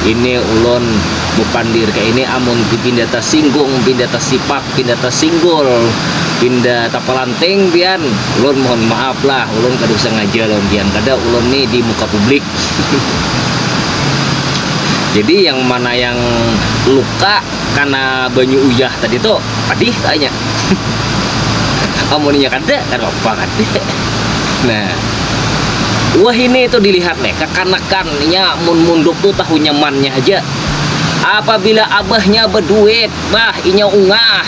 Ini ulun bapandir ka ini amun ti pinda tasinggung, pinda tasipak, pinda tasinggul, pinda tapalanting pian ulun mohon maaf lah ulun kada sangaja lawan pian kada ulun ni di muka publik. Jadi yang mana yang luka kana banyu uyah tadi tu padih ka inya. Amun inya kada kadapapa kada. Nah wahini tu dilihat leh kakanakan. Nya mun munduk tu tahu nyamannya haja. Apabila abahnya beduit, bah inya ungah.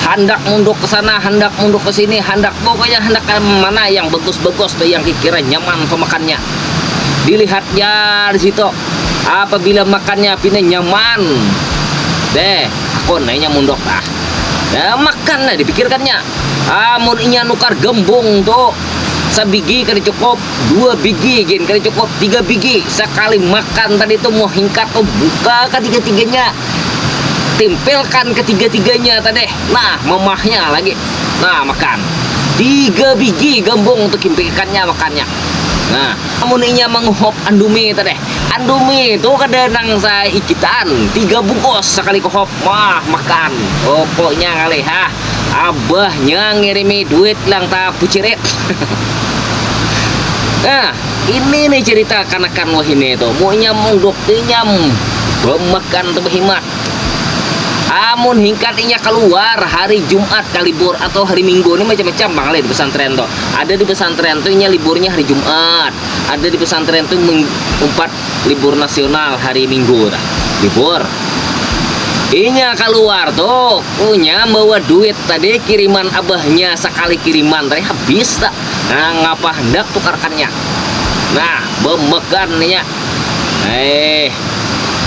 Handak munduk ke sana, handak munduk ke sini, handak pokoknya handak mana yang bagus-bagus tu yang dikira nyaman pemakannya. Dilihat ja di situ. Apabila makannya pina nyaman, beh hakun inya munduk bah. Nah, makan nah dipikirkannya. Ah, mun inya nukar gembung tu sabigi kada cukup. Dua bigi gin kada cukup, tiga bigi. Sakali makan tadi tu muha hingkat tu buka katiga-tiganya. Timpilkan katiga-tiganya tadi. Nah, mamahnya lagi. Nah, makan. Tiga bigi gambung tu kimpik ikannya makannya. Nah, amun inya manguhup andumi tadi. Andumi tu kada nang saikitan, tiga bungkus sakali kuhup. Mah, makan. Pokoknya ngalih ha. abahnya ngirimi duit lang tapu cirit. nah, ini nih cerita kanakan wahini itu. Munya munduk inyam bemakan tuh behimat. Amun hingkat inya keluar hari Jumat kalibur atau hari Minggu ini macam-macam bang di pesantren tuh. Ada di pesantren tuh inya liburnya hari Jumat, ada di pesantren tuh umpat libur nasional hari minggu nah. libur inya kaluar tuh punya bawa duit tadi kiriman abahnya sakali kiriman tadi habis tak nah ngapa hendak tukarkannya nah bemegan inya eh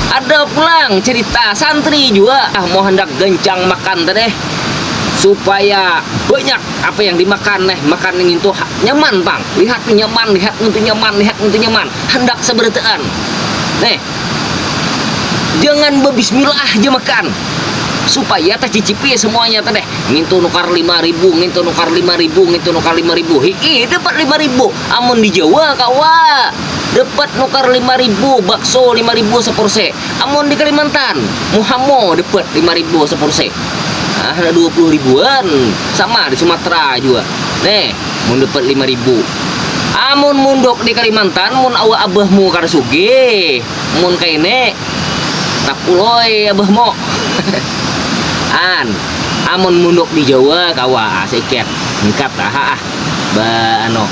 ada pulang cerita santri juga ah mau hendak gencang makan tadi supaya banyak apa yang dimakan eh makan ini tuh nyaman bang lihat tuh nyaman lihat tuh nyaman lihat tuh nyaman handak sabarataan ne jangan babismilaah ja makan supaya tacicipi samuanya tu deh ngintu nukar lima ribu ngintu nukar lima ribu ngintu nukar lima ribu hii dapat lima ribu amun di jawa kawa dapat nukar lima ribu bakso lima ribu sapursi amun di kalimantan muhamu dapat lima ribu sapursi handak dua puluh ribuan sama di sumatera jua ne mun dapat lima ribu. Amun munduk di Kalimantan mun awa abahmu kada sugih, mun kaini tapuloi abahmu. An, amun munduk di Jawa kawa ah saikit, hingkat aha ah ba anu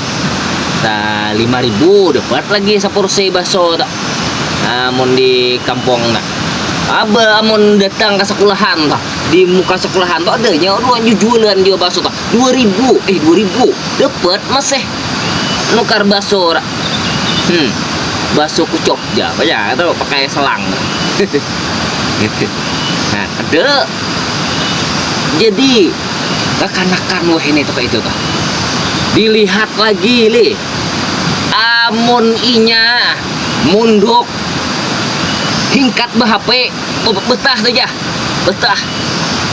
sa lima ribu dapat lagi sapursi bakso tu amun di kampung tu. Aba amun datang ka sakulahan tu. di muka sekolahan tuh adanya orang jualan dia bakso tuh dua ribu eh dua ribu dapat masih nukar bakso hmm bakso kucok ya banyak itu pakai selang gitu nah ada jadi kekanakan wah ini tuh itu tuh dilihat lagi li amun inya munduk hingkat bahape Oh, betah tu jah. Betah.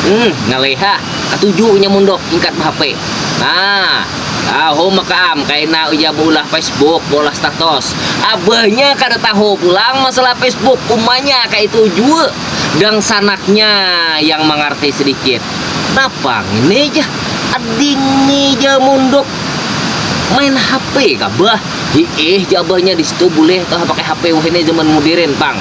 Hmm, ngalih ha. Katuju inya mundok ingkat behape. Nah, taho maka am kaina ujar beulah Facebook, beulah status. Abahnya kada taho pulang masalah Facebook, umanya kaitu jua dangsanaknya yang mangarti sedikit. Napa ngini jah, adingni ja mundok main hape kah bah. Hiih, jar abahnya, di situ bulih kah pakai hape wahini zaman mudirin pang.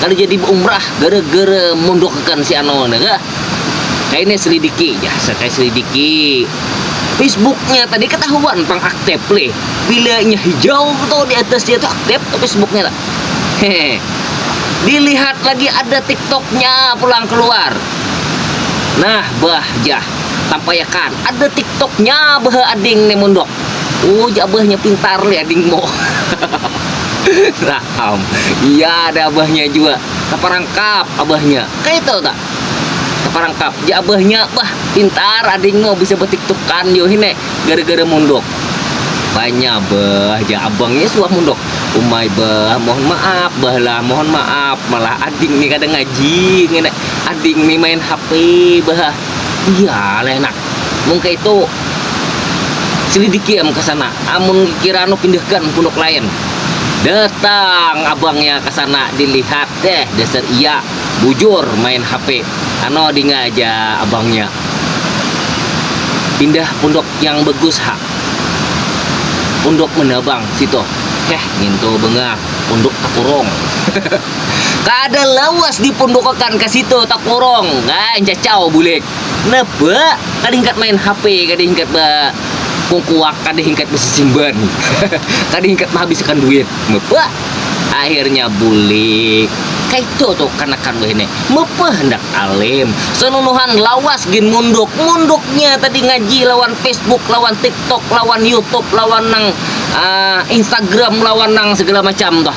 kada jadi baumrah gara-gara mondokakan si Anwar nih kah. Kaya nih selidiki, ya saya selidiki. Facebooknya tadi ketahuan pang aktif lih. Bila inya hijau tuh di atas dia tuh aktif tuh Facebooknya tuh. Hehe. Dilihat lagi ada TikToknya pulang keluar. Nah, bah jah tampayakan ada TikToknya bah ading nih mondok. Ujar abahnya pintar nih ading mo. Raham. Iya ada abahnya jua. Taparangkap abahnya. Kaitu ta. Taparangkap. Ujar abahnya, bah pintar ading mo bisa batiktukan yo hine gara-gara munduk. Banya bah, jar abangnya suah munduk. Umai bah, mohon maaf bah lah, mohon maaf. Malah ading nih kada ngaji ngini. Ading nih main HP bah. Iyalah enak. Mun kaitu selidiki am ka sana. Amun kira anu pindahkan punduk lain. Datang abangnya ka sana dilihat, deh dasar iya bujur main HP. Ano dinga ja abangnya. Pindah punduk yang bagus ha. Punduk mana bang, situ. Heh ngintu bengah punduk takurung. Kada lawas dipundukakan ka situ takurung. Nah, cacau bulik. Napa? Kada hingkat main HP, kada hingkat ba kungkuak, kada hingkat basisimban, kada hingkat mahabisakan duit. Mapa? Akhirnya bulik. Kaitu tu kanakan wahini. Mapa handak alim. Sanunuhan lawas gin munduk. Munduknya tadi ngaji lawan Facebook, lawan TikTok, lawan YouTube, lawan nang, uh, Instagram, lawan nang sagala macam tuh.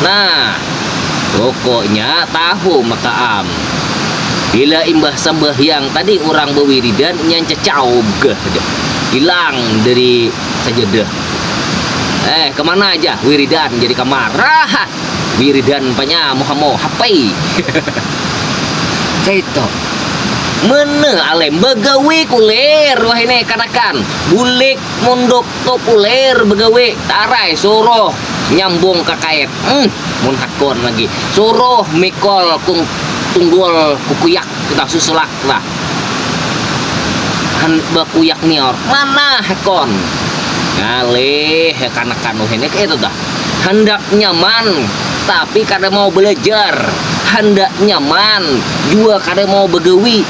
Nah, pokoknya tahu maka am. Bila imbah sambahyang tadi urang bawiridan inya ncacaub gah dah. Hilang dari sajadah. Eh, kamana aja wiridan jar di kamar. Raha! Wiridan panya muhamu hapai. Kaitu. Mana alem bagawi kulir wahini kanakan. Bulik munduk. Populer begawe, tarai suruh nyambung ka kait, um mun hakun lagi suruh mikul kung tunggul kukuyak kita susulak kita han bakuyak nior mana hakun ngalih kanakan wahini kaitu tuh handak nyaman tapi kada mau belajar handak nyaman jua kada mau begawi.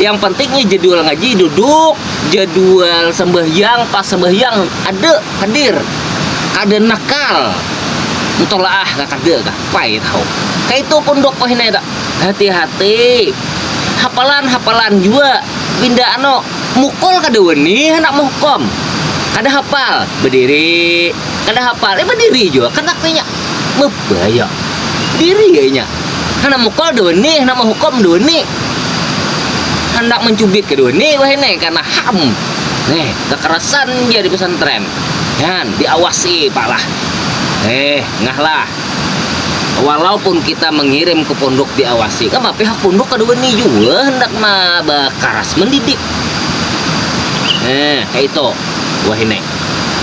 yang penting nih jadwal ngaji duduk jadwal sembahyang pas sembahyang ada hadir kada nakal mutolaah gak kada gak pai tahu kaitu pun dok pahina ya hati-hati hapalan hapalan jua pinda ano mukul kada wani handak mehukum kada hapal bediri kada hapal ya bediri jua kada kena mebaya diri ya inya handak mukul dunih handak menghukum dunih handak mencubit ke dunih wahini karena ham nih kekerasan dia di pesantren kan diawasi pak lah eh ngah lah walaupun kita mengirim ke pondok diawasi kan pihak pondok kada wani jua handak ma bakaras mendidik eh kaya itu wahini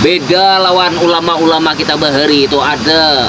beda lawan ulama-ulama kita bahari itu ada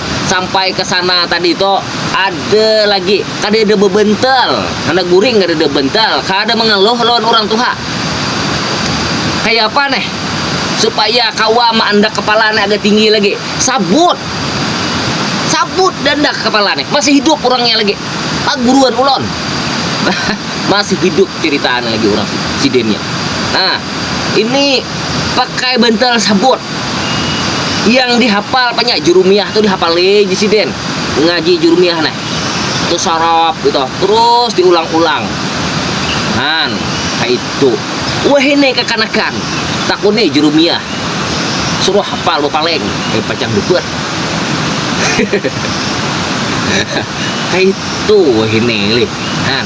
sampai ke sana tadi itu ada lagi kada ada bebentel anak guring kada ada bentel kada mengeluh lawan orang tuha kaya apa nih supaya kawa maandak kepala nih agak tinggi lagi sabut sabut daandak kepala nih masih hidup urangnya lagi paguruan ulun masih hidup ceritaan lagi urang sidin nya nah ini pakai bentel sabut. yang dihafal banyak jurumiah tuh dihafal lagi sih Den ngaji jurumiah nah tuh sarap gitu terus diulang-ulang han itu wah ini kekanakan takun nih jurumiah suruh hafal lo paling eh pacang debet itu wah ini lih han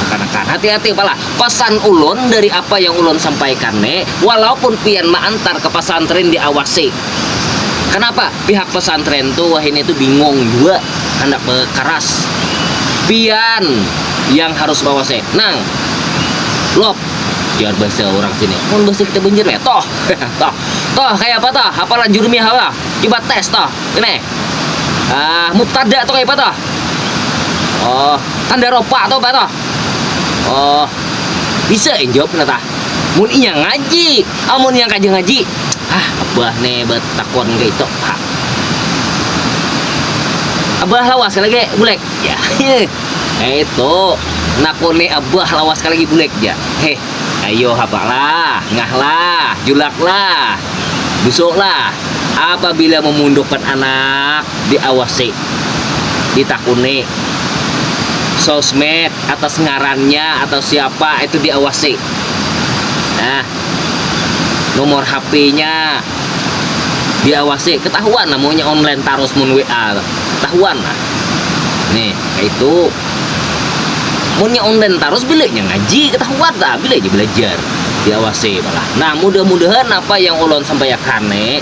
kekanakan hati-hati pala Pesan ulun dari apa yang ulun sampaikan ne, walaupun pian maantar ke pesantren diawasi. Kenapa? Pihak pesantren tu wahini tu bingung jua handak bekeras. Pian yang harus mawasi. Nang, Lop, jar bahasa urang sini. Mun bahasa kita Banjar ya, Toh, Toh. Toh, kaya apa Toh? Hapalan jurumiyah apa Toh? Cuba tes Toh. Ini, ah, mubtada tu kaya apa Toh? Oh, tanda ropa tu apa Toh? Oh, bisa yang jawab nah tah. Mun inya ngaji, amun inya kada ngaji, ah abah ne batakon kaitu ha. Abah lawas ka lagi bulik ja kaitu nakuni abah lawas ka lagi bulik ja heh ayo hapa lah ngah lah julak lah busuk lah apabila mamundukkan anak diawasi, ditakuni, sosmed atas ngarannya atau siapa itu diawasi, nah nomor hp-nya diawasi ketahuan lah munnya online tarus mun WA tu ketahuan lah ni kaitu munnya online tarus bila nya ngaji ketahuan lah bila nya belajar diawasi tu lah nah mudah-mudahan apa yang ulun sampaiakan ni.